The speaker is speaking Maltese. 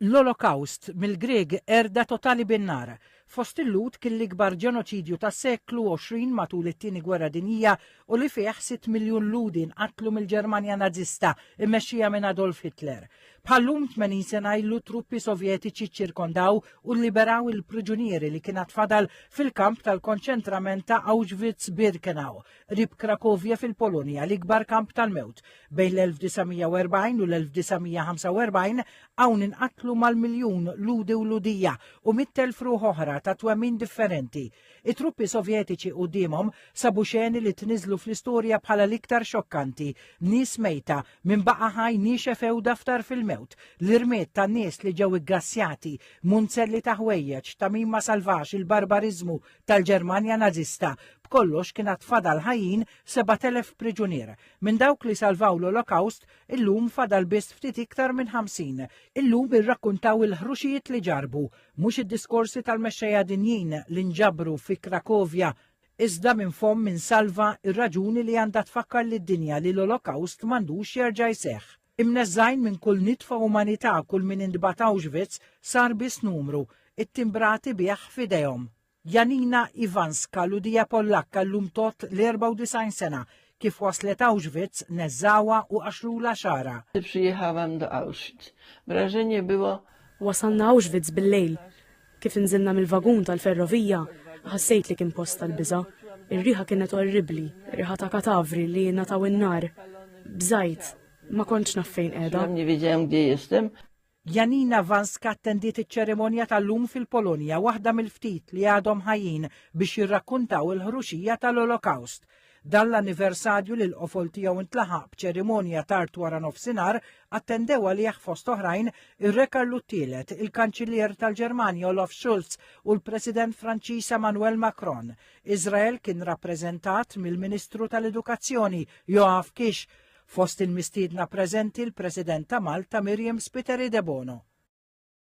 L-Olokawst, mill-Grieg qerda totali bin-nar, fost il-Lhud kien l-ikbar ġenoċidju tas-seklu 20 matul it-Tieni Gwerra Dinjija u li fih sitt miljun Lhudi nqatlu mill-Ġermanja Nażista mmexxija minn Adolf Hitler. Bħal-lum 80 sena ilu truppi Sovjetiċi ċċirkondaw u lliberaw il-priġunieri li kien għad fadal fil-kamp tal-konċentrament ta' Auschwitz-Birkenau qrib Krakovja fil-Polonja, l-ikbar kamp tal-mewt. Bejn l-1940 u l-1945 hawn inqatlu mal-miljun ludi u ludija u mit-telf ruħ oħra ta' twemmin differenti. It-truppi Sovjetiċi quddiemhom sabu xeni li tniżlu fl-istorja bħala l-iktar xokkanti, nies mejta, min baqa' ħaj niexef ewda ftar fil-mewt, l-irmied tan-nies li ġew iggassjati, munzelli ta' ħwejjeġ, tagħmima salvaġġ, il-barbariżmu, tal-Ġermanja Nażista. B'kollox kien għad fadal ħajjin 7,000 priġunier. Minn dawk li salvaw l-Olokawst, illum fadal biss ftit iktar minn 50. Illum irrakkuntaw il-ħruxijiet li ġarrbu, mhux id-diskorsi tal-mexxejja dinjin li nġabru fi Krakovja, iżda minn fomm min salva r-raġuni li għandha tfakkar lid-dinja li l-Olokawst m'għandux jerġa' jseħħ. Imneżżgħin minn kull nitfa umanità kull min intbagħat Auschwitz sar biss numru, ittimbrati bih f'idejhom. Janina Iwanska, Lhudija Pollakka llum tgħodd l-94 sena, kif waslet Auschwitz neżżgħuha u qaxxrulha xagħarha. Przyjechałam do Auschwitz. Wrażenie było Wasalna Auschwitz bil-lejl. Kif inżilna mill-vagun tal-ferrovija, ħassejt li kien post tal-biża'. Ir-riħa kienet orribbli, riħa ta' katavri li ngħataw in-nar. Bżajt, ma kontx naf fejn qiegħda. Janina Wanska attendiet iċ-ċerimonja tal-lum fil-Polonja, waħda mill-ftit li għadhom ħajjin biex jirrakkuntaw il-ħruxija tal-Olokawst. Dan l-anniversarju li l-qofol tiegħu ntlaħaq b'ċerimonja tard wara nofsinhar attendew għalih fost oħrajn ir-Re Karlu t-Tielet, il-Kanċillier tal-Ġermanja Olaf Schulz u l-President Franċiż Emmanuel Macron. Iżrael kien rappreżentat mill-Ministru tal-Edukazzjoni Yoav Kish, fost il-mistiedna preżenti l-President ta' Malta Miriam Spiteri Debono.